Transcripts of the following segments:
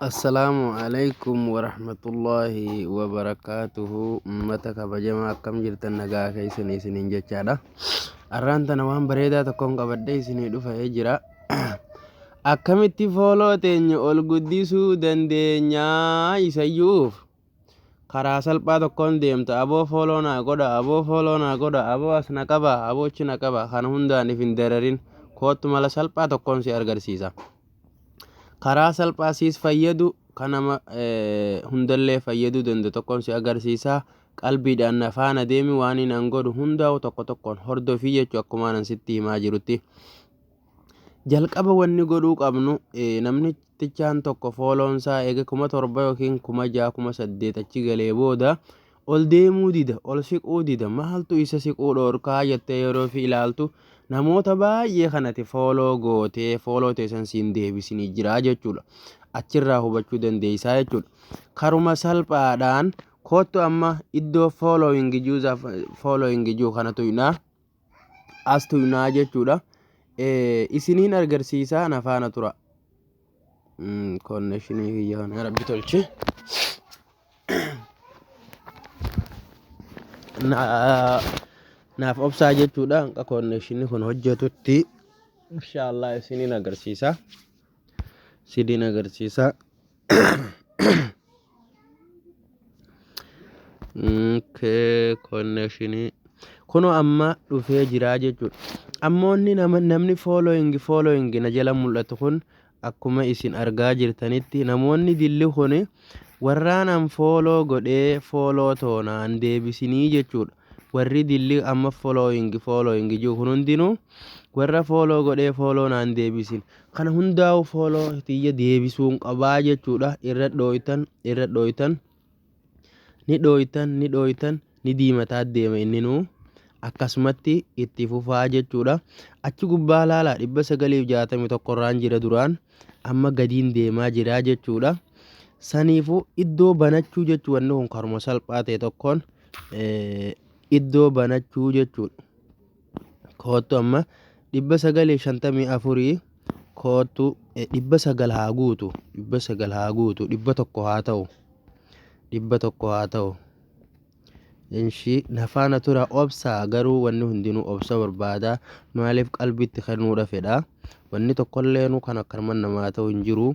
Assalaamu alaikum warahmatullaahi wabarakaatuhu ummata kabajamaa akkam jirtan nagaa keessan isiniin jechaadha arraan tana waan bareedaa tokkoon qabadhee isinii dhufee jira akkamitti fooloo teenya ol guddisuu dandeenyaa isayyuuf karaa salphaa tokkoon deemta aboo fooloo naa godha aboo fooloo naa godha aboo as na qaba aboo achi na qaba kana hundaan if hin dararin koottu mala salphaa tokkoon si argarsiisa karaa salphaa siis fayyadu kan nama eh, hundallee fayyaduu danda'u tokkoon si agarsiisa qalbiidhaan na faana deemi waan inni an godhu hundaa'u tokko tokkoon hordofii jechuu akkumaanan sitti himaa jirutti Jalqaba wanni godhuu qabnu namnichaan tokko fooloon isaa eega kuma torba yookiin kuma ja'a kuma saddeet achi galee booda ol deemuu dida ol siquu dida maaltu isa siquu dhoorkaa jettee yeroo fi ilaaltu namoota baay'ee kanati fooloo gootee fooloo teessan siin deebisinii jiraa jechuudha. Achirraa hubachuu dandeessaa jechuudha. Karuma salphaadhaan koottu amma iddoo foolooyingi juuzaaf foolooyingi juu kanatu hidhaa as tuynaa jechuudha. Isiniin argarsiisaa na faana tura. Konnekshinii kiyya kana rabbi tolchi. Naaf obsaa jechuudha. Hanqa konnekshinii kun hojjetutti inshaallah isiniin agarsiisa. Sidiin agarsiisa. Okay, connection. Kunoo amma dhufee jiraa jechuudha. Ammoonni nama- namni following following na jala mul'atu kun akkuma isin argaa jirtanitti namoonni dilli kun warraan an follow godhee follow toonaan deebisinii jechuudha. Warri dilli amma following following jiru kun hundinuu warra follow godhee follow naan deebisin kana hundaa'u follow tiyya deebisuun qabaa jechuudha irra dhooytan irra dhooytan ni dhooytan ni dhooytan ni diimataa deema inninuu akkasumatti itti fufaa jechuudha achi gubbaa laalaa dhibba sagaliif jaatamii tokkorraan jira duraan amma gadiin deemaa jiraa jechuudha saniifuu iddoo banachuu jechuu wanni kun karuma salphaa ta'e tokkoon iddoo banachuu jechuudha. Koottu amma 954 koottu 900 haa guutu 900 haa guutu 100 haa ta'u 100 haa ta'u. Inshii nafaana tura obsaa garuu wanni hundinuu obsa barbaada maaliif qalbiitti kennuudha fedha wanni tokkollee nu kan akkanumaan namaa ta'u hin jiru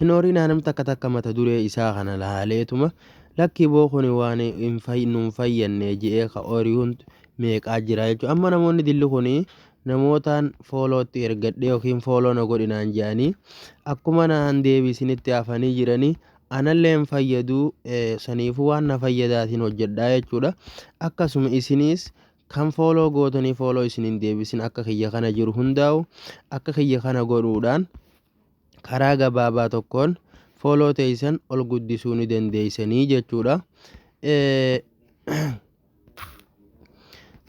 Hin oorinaa nam takka takka mata duree isaa kana laaleetuma lakkii boo kuni waan hin fay- nuun fayyanne je'ee ka ooriyuun meeqaa jira jechuudha. Amma namoonni dilli kuni namootaan foolootti ergadhee yookiin fooloo na godhinaan je'anii akkuma naan deebisinitti hafanii jiranii anallee hin fayyadu eh, saniifuu waan na fayyadaatiin hojjedhaa jechuudha. Akkasuma isiniis kan fooloo gootanii fooloo isin hin deebisin akka kiyya kana jiru hundaa'u akka kiyya kana godhuudhaan karaa gabaabaa tokkoon fooloo teeysan ol guddisuu ni dandeeysanii jechuudha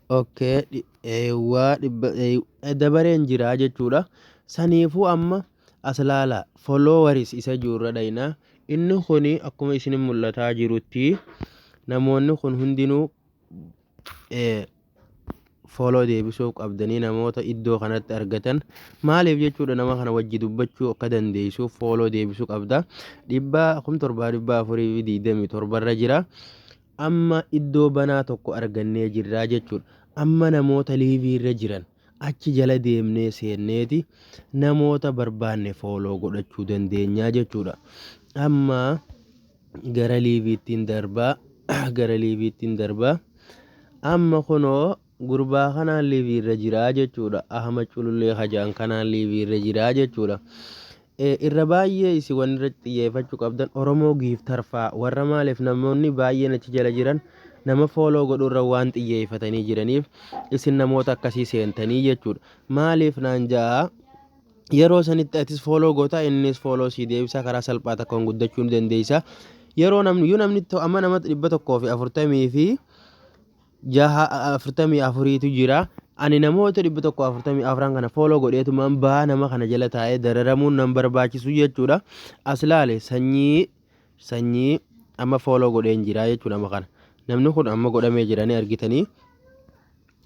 okay eewwaa dabareen jiraa jechuudha saniifuu amma as laala followers isa juurra dhayna inni kun akkuma isin mul'ataa jirutti namoonni kun hundinuu follow deebisuuf qabdanii namoota iddoo kanatti argatan maaliif jechuudha nama kana wajji dubbachuu akka dandeessuuf follow deebisuu qabda dhibbaa kum torbaa dhibbaa afurii fi digdamii torbarra jira amma iddoo banaa tokko argannee jirraa jechuudha amma namoota liiviirra jiran Achi jala deemnee seenneeti namoota barbaanne fooloo godhachuu dandeenyaa jechuudha. Amma gara liiviittiin darbaa gara liiviittiin darbaa amma kunoo gurbaa kanaan liiviirra jiraa jechuudha. Ahama culullee hajaan kanaan liiviirra jiraa jechuudha. Irra baay'ee isin wanni irratti xiyyeeffachuu qabdan Oromoo Giiftar faa warra maaliif namoonni baay'een achi jala jiran nama fooloo godhuu irra waan xiyyeeffatanii jiraniif isin namoota akkasii seentanii jechuudha. Maaliif naan ja'a yeroo sanitti atis fooloo gootaa innis fooloo sii deebisaa karaa salphaa takkaan guddachuu ni dandeessa. Yeroo namni yoo namni to- amma nama dhibba tokkoo fi afurtamii fi jaha afurtamii afuriitu jira. Ani namoota dhibba tokko afurtamii afran kana fooloo godheetumaan baa nama kana jala taa'ee dararamuun nan barbaachisu jechuudha. As laale sanyii sanyii amma fooloo godheen jira jechuudha amma kana. Namni kun amma godhamee jira ni argitanii.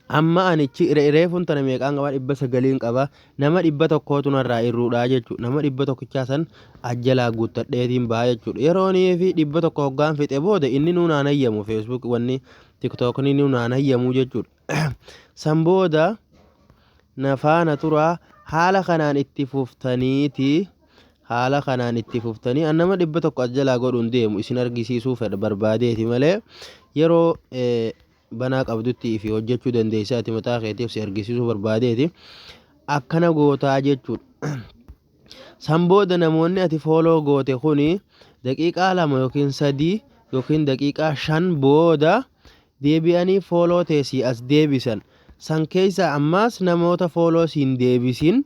Amma anichi reefuun tana meeqaan qaba dhibba sagaliin qaba. Nama dhibba tokkootu narraa irruudha jechuudha. Nama dhibba tokkichaa san as jalaa guuttadheetiin ba'a jechuudha. Yeroonii fi dhibba tokko hoggaan fixe booda inni nuun aan hayyamu Facebook wanni TikTokni nuun aan hayyamu jechuudha. San booda na faana turaa haala kanaan itti fuftaniiti haala kanaan itti fuftanii an nama dhibba tokko as jalaa godhuun deemu isin argisiisuu fedha barbaadeeti malee yeroo eh, banaa qabdutti fi hojjechuu dandeessa ati mataa keetiif si argisiisuu barbaadeeti akkana gootaa jechuudha. San booda namoonni ati fooloo goote kuni daqiiqaa lama yookiin sadii yookiin daqiiqaa shan booda deebi'anii fooloo tee si as deebisan. San keessa ammaas namoota fooloo siin deebisin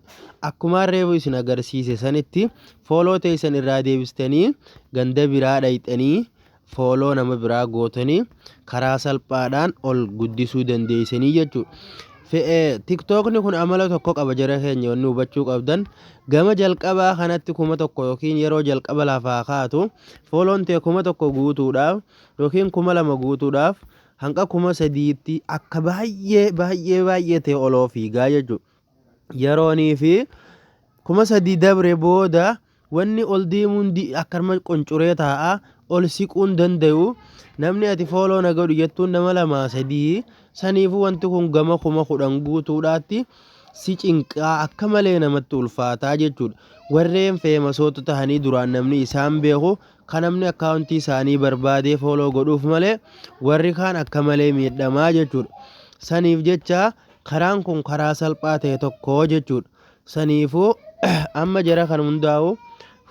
akkumaan reefu isin agarsiise sanitti fooloo teessan irraa deebistanii ganda biraa dhayxanii follow nama biraa gootanii karaa salphaadhaan ol guddisuu dandeessanii jechuudha. Tiktookni kun amala tokko qaba jara keenya wanni hubachuu qabdan gama jalqabaa kanatti kuma tokko yookiin yeroo jalqaba lafaa kaatu fooloon ta'e kuma tokko guutuudhaaf yookiin kuma lama guutuudhaaf hanga kuma sadiitti akka baay'ee baay'ee baay'ee ta'e oloo fiigaa jechuudha. yeroonii fi kuma sadii dabre booda wanni ol deemu hundi akkanuma qoncuree taa'a ol siquun danda'u namni ati fooloo na godhu jettuun nama lamaa sadii saniifuu wanti kun gama kuma kudhan guutuudhaatti si cinqaa akka malee namatti ulfaataa jechuudha warreen feemasoota tahanii duraan namni isaan beeku kan namni akkaawuntii isaanii barbaadee fooloo godhuuf malee warri kaan akka malee miidhamaa jechuudha saniif jecha Karaan kun karaa salphaa ta'e tokko jechuudha. Saniifuu amma jara kan hundaa'u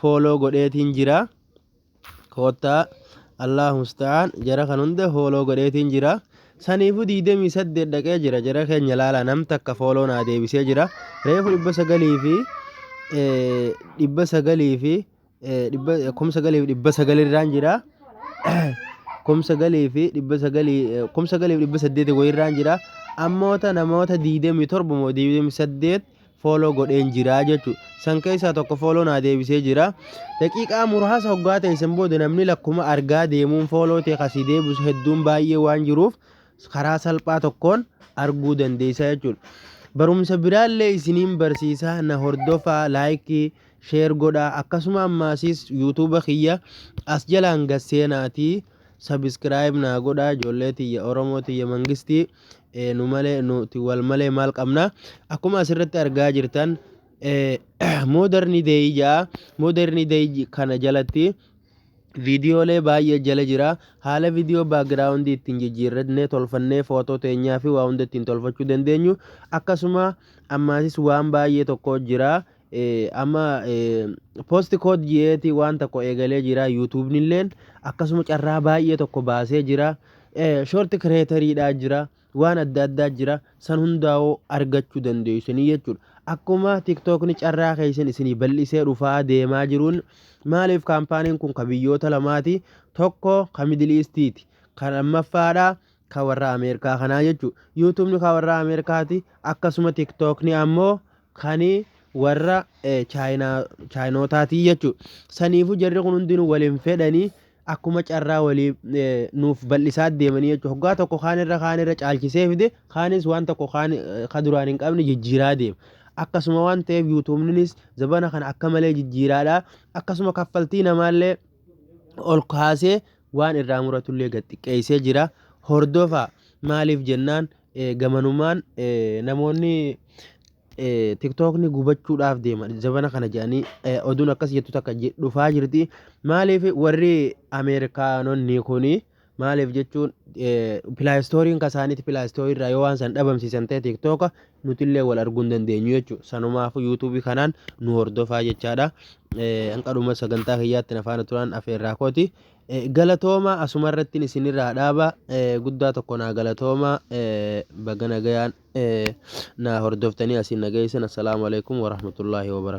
fooloo godheetiin jira. Koottaa Allahu musta'aan jara kan hunda fooloo godheetiin jira. Saniifuu 28 dhaqee jira jara keenya laala nam takka fooloo naa deebisee jira. Reefu 900 fi 900 fi kumsa galiif dhibba sagalii irraan jira kumsa galii fi dhibba sagalii kumsa galiif dhibba saddeeti wayii irraan jira ammoota namoota diidamii torba moo diidamii saddeet fooloo godheen jira jechuudha san keessaa tokko fooloo naa deebisee jira daqiiqaa muraasa hoggaa ta'e san booda namni lakkuma argaa deemuun fooloo ta'e kasii deebisu hedduun baay'ee waan jiruuf karaa salphaa tokkoon arguu dandeessaa jechuudha barumsa biraallee isiniin barsiisaa na hordofaa laayikii Share godhaa akkasuma ammaasiis YouTube kiyya as jalaan gad seenaatii subscribe naa godhaa ijoollee tiyya Oromoo tiyya mangistii eh, nu malee nuti wal malee maal qabna akkuma asirratti argaa jirtan eh, modern day ja'a modern day j- kana jalatti viidiyoolee baay'ee jala jira haala viidiyoo baagiraawundii ittiin jijjiirrannee tolfannee footoo teenyaa fi waa hunda ittiin tolfachuu dandeenyu akkasuma ammaasis waan baay'ee tokko jira amma post code ji'eeti waan tokko eegalee jira yuutuubni illeen akkasuma carraa baay'ee tokko baasee jira shorti kireetariidhaa jira waan adda addaa jira san hundaa'oo argachuu dandeessanii jechuudha akkuma tiktookni carraa keessan isinii bal'isee dhufaa deemaa jiruun maaliif kaampaaniin kun ka biyyoota lamaati tokko ka midiliistiiti kan ammaffaadha ka warra ameerikaa kanaa jechuudha yuutuubni ka warra ameerikaati akkasuma tiktookni ammoo kani warra chaayinootaati jechuudha. Saniifuu jarri kun hundinuu wal hin fedhanii akkuma carraa walii nuuf bal'isaa deemanii jechuudha. Hoggaa tokko kaan irra kaan irra caalchisee fide kaanis waan tokko kaan ka duraan hin qabne jijjiiraa deema. Akkasuma waan ta'eef yuutuubninis zabana kana akka malee jijjiiraadha. Akkasuma kaffaltii namaallee ol kaasee waan irraa muratullee gad xiqqeessee jira. Hordofaa maaliif jennaan Gamanumaan namoonni tiktookni gubachuudhaaf deema jabana kana jedhanii oduun akkas jettu takka dhufaa jirti maaliif warri ameerikaanonni kuni maaliif jechuun pilaayistooriin kasaaniiti pilaayistoorii irraa yoo waan san dhabamsiisan ta'e tiktooka nutillee wal arguu hin dandeenyu jechuudha sanumaafuu yuutuubii kanaan nu hordofaa jechaadha hanqadhuma sagantaa kiyyaatti na faana turaan afeerraa kooti Galatoomaa asuma irrattin isinirraa dhaaba guddaa tokko naa galatoomaa baga nagayaan naa hordoftanii asiin na geessan assalaamu alaikum warahmatullaahi wabarakatuh